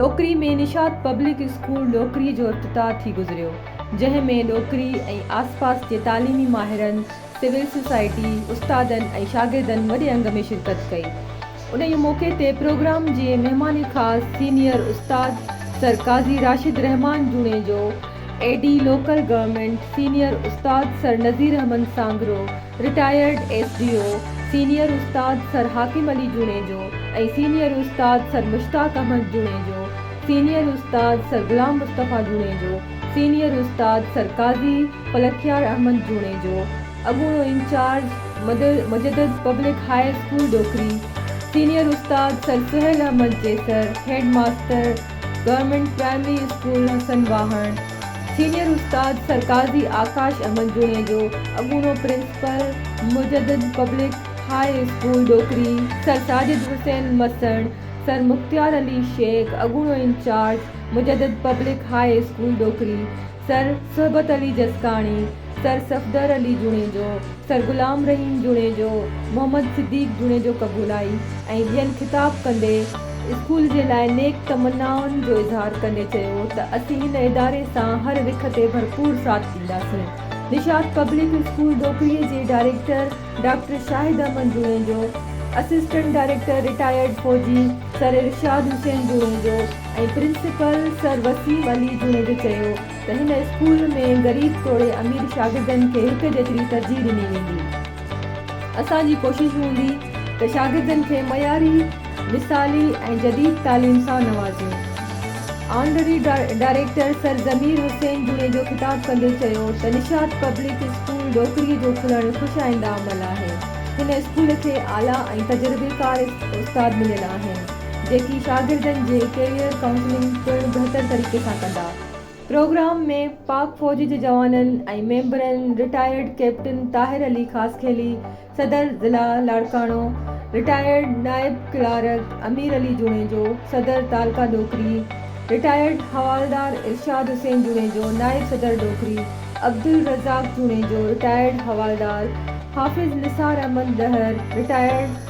Dokri ۾ Nishat public school Dokri جو افتتاح ٿي گذريو جنهن ۾ ڏوڪري ۽ آسپاس جي تعليمي ماهرن، سول سوسائٽي، استادن ۽ شاگردن وڏي انگ ۾ شرڪت ڪئي. انهيء موقعي تي پروگرام جي مهمان خاص سينيئر استاد sir Qazi Rashid ur Rehman Junejo, A D local government, senior استاد sir Nazir Ahmed Sangro, retired S D O senior استاد سر حاڪم علي جوڻيجو ۽ سينيئر استاد سر مشتاق احمد جوڻيجو، سينيئر استاد سر غلام مصطفيٰ جوڻيجو، سينيئر استاد سر قاضي پلکيار احمد جوڻيجو، اڳوڻو incharge Mujaddid public high school Dokri, senior استاد sir Sohail Ahmed Jessar, head master government primary school Hassan Wahan, senior استاد سرڪارزي آڪاش احمد جوڻيجو، اڳوڻو principal Mujaddid public high school Dokri, sir Sajid Hussain Masan, sir Mukhtiar Ali Shaikh, اڳوڻو incharge Mujaddid public high school Dokri, sir Sohbat Ali Jaskani, سر صفدر علي جوڻيجو، سر غلام رحيم جوڻيجو، محمد صديق جوڻيجو قبولائي ۽ ٻين خطاب ڪندي اسڪول جي لاء نيڪ تمنائن جو اظهار ڪندي چيو ته اسين هن اداري سان هر رخ تي ڀرپور ساٿ ڏينداسين. نشاط پبلڪ اسڪول ڏوڪري جي director doctor Shahid Ahmed Junejo, assistant director retired فوجي sir Irshad Hussain Junejo ۽ principal sir Waseem Ali Junejo چيو ته هن اسڪول ۾ غريب توڙي امير شاگردن کي هڪ جيتري ترجيح ڏني ويندي. اسان جي ڪوشش هوندي ته شاگردن کي معياري، مثالي ۽ جديد تعليم سان نوازيون. Honorary director sir Zameer Hussain Junejo خطاب ڪندي چيو ته نشاط پبلڪ اسڪول ڏوڪري جو کلڻ خوش آئنده عمل آهي. هن اسڪول کي اعليٰ ۽ تجربيڪار استاد مليل آهن، جيڪي شاگردن جي ڪيريئر ڪائونسلنگ پڻ بهتر طريقي سان ڪندا. پروگرام ۾ پاڪ فوج جي جوانن ۽ ميمبرن رٽائرڊ ڪئپٽن طاهر علي خاصخيلي، صدر ضلع لاڙڪاڻو، رٽائرڊ نائب ڪلارڪ امير علي جوڻيجو، صدر تعلقه ڏوڪري، رٽائرڊ حوالدار ارشاد حسين جوڻيجو، نائب صدر ڏوڪري، عبدالرزاق جوڻيجو، رٽائرڊ حوالدار حافظ نثار احمد ڏهر، رٽائرڊ